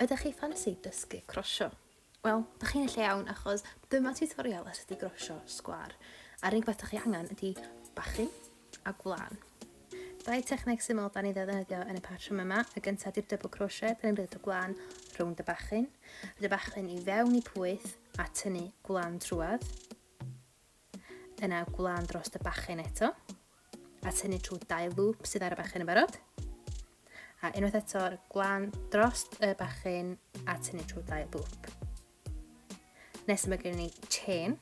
Ydych chi ffansi dysgu crosio? Wel, dych chi'n y lle iawn achos dyma tutorial ar sut i grosio sgwar. A'r unig beth dych chi angen ydy bachyn a gwlân. Dau techneg syml da ni ddefnyddio yn y patrwm yma. Y gyntaf ydy'r double crochet, da ni'n rhedeg y gwlân rownd y bachyn, rhedeg y bachyn i fewn i pwyth a tynnu gwlân trwad. Yna gwlan dros y bachyn eto, a tynnu trwy dau lŵp sydd ar y bachyn yn barod. A unwaith eto, gwlan dros y bachyn a tynnu trwy dau lŵp. Nes yma gen ni chain,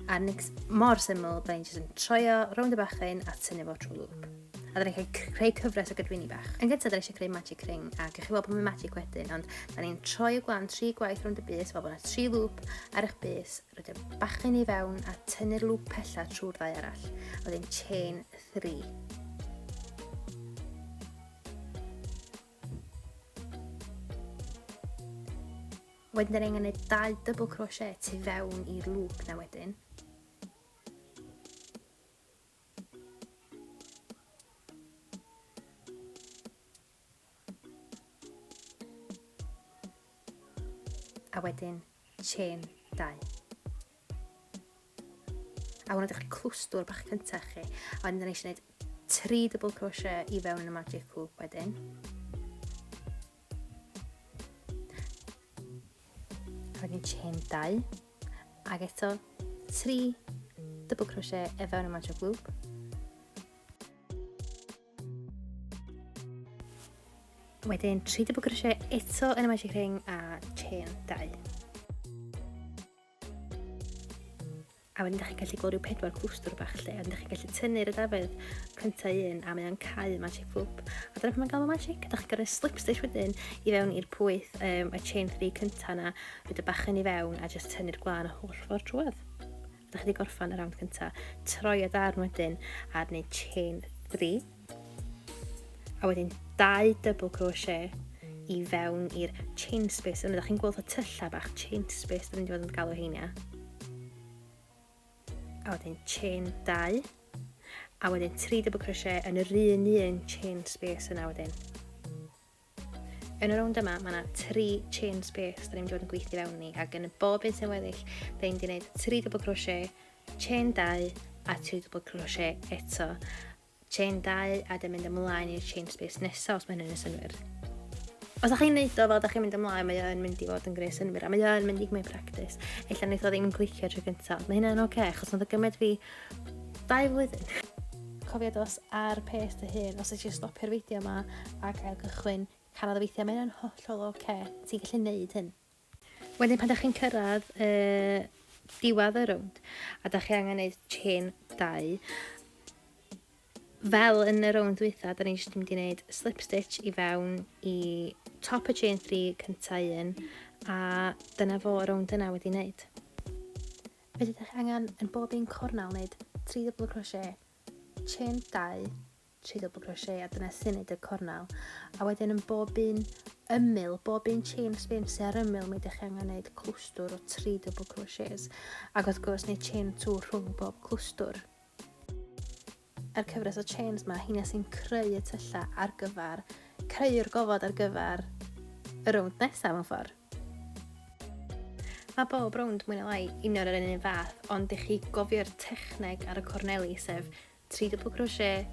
a nix mor syml, da ni'n jyst yn troio rownd y bachyn a tynnu fo trwy lŵp. A da ni'n cael creu cyfres o gydwyni bach. Yn gyntaf, da ni eisiau creu magic ring, a gych chi weld bod mae'n magic wedyn, ond da ni'n troi y gwlan tri gwaith rownd y bus, fel bod yna tri lŵp ar eich bus, Rhoi y bachgen i fewn a tynnu'r lŵp pella trwy'r ddau arall, a wedyn chain 3. Wedyn dyn ni'n gwneud dau double crochet tu fewn i'r lŵp na wedyn. A wedyn chain 2. A hwnna ydych chi clwstwr bach cyntaf chi. A wedyn dyn eisiau gwneud 3 double crochet i fewn yn y magic hoop wedyn. A wedyn chain 2. Ac eto 3 double crochet i fewn y magic loop. Wedyn 3 double crochet eto yn y magic ring a chain 2. A wedyn ydych chi'n gallu gweld rhyw pedwar clwstwr bach lle, a wedyn ydych chi'n gallu tynnu'r ydafedd cyntaf un a mae'n cael magic loop. A dyna pan mae'n gael o magic, ydych chi'n gorau slip stitch wedyn i fewn i'r pwyth um, y chain 3 cyntaf yna, rhaid y bach yn i fewn a jyst tynnu'r glan holl ffordd drwad. Dych chi wedi gorffan y rawnd cyntaf, troi y darn wedyn ar wneud chain 3 a wedyn dau double crochet i fewn i'r chain space yna. Dych chi'n gweld y tyllau bach chain space, dyn ni'n dweud yn galw heiniau. A wedyn chain 2 a wedyn 3 double crochet yn yr un un chain space yna wedyn. Yn y rownd yma, mae yna tri chain space da ni'n mynd i fod yn gweithio fewn ni, ac yn bob un sy'n weddill, da ni'n mynd i wneud tri double crochet, chain dau, a tri double crochet eto. Chain dau, a da mynd ymlaen i'r chain space nesaf, os mae hynny'n synwyr. Os ydych chi'n neud o fel da chi'n mynd ymlaen, mae o'n mynd i fod yn greu synwyr, a mae o'n mynd i gymryd practis. Ella wneud o ddim yn clicio tro cyntaf, ond mae hynna'n oce, okay, achos oedd o gymaint fi Dau flwyddyn. Cofia dos ar pace dy hun os eisiau stopio'r fideo yma ac ail gychwyn, canodd y weithiau, mae hynna'n hollol ok, ti'n gallu neud hyn. Wedyn pan da chi'n cyrraedd y diwadd y rownd a da chi angen neud chain dau, fel yn y rownd dwytha, da ni jyst mynd i neud slip stitch i fewn i top y chain 3 cyntaf un a dyna fo rownd yna wedi neud. Fe fydd eich angen yn bob un cornel wneud tri dwbl crochet, chain 2, tri dwbl crochet a dyna sy'n wneud y cornel, a wedyn yn bob un ymyl, bob un chain spin sy'n ar ymyl mi ydych chi angen wneud clwstwr o tri dwbl crochets ac wrth gwrs neu chain 2 rhwng bob clwstwr. A'r cyfres o chains 'ma, heina sy'n creu y tyllau ar gyfer, creu'r gofod ar gyfer y rownd nesaf mewn ffordd. Mae bob rownd mwy na lai union yr un fath, ond i chi gofio'r techneg ar y corneli, sef 3 double crochet,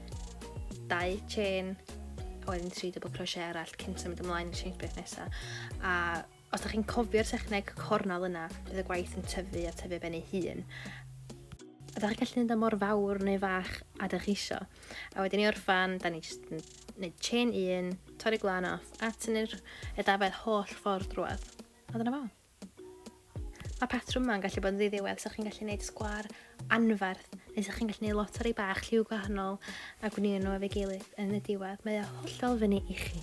2 chain, a wedyn 3 double crochet arall cyn symud ymlaen i'r chain space nesaf. A Os da chi'n cofio'r techneg cornel yna, bydd y gwaith yn tyfu a tyfu ben ei hun. A da chi'n gallu mynd o mor fawr neu fach a da chi isio. A wedyn i orffan, da ni jyst yn gwneud chain un, torri glan off, a tynnu'r edafedd holl ffordd drwad. A dyna fo. Mae patrwm yma'n gallu bod yn ddiddiwedd, so chi'n gallu gwneud sgwar anferth, neu so chi'n gallu gwneud lot o rei bach lliw gwahanol a gwnio nhw efo'i gilydd yn y diwedd. Mae o hollol fyny i chi.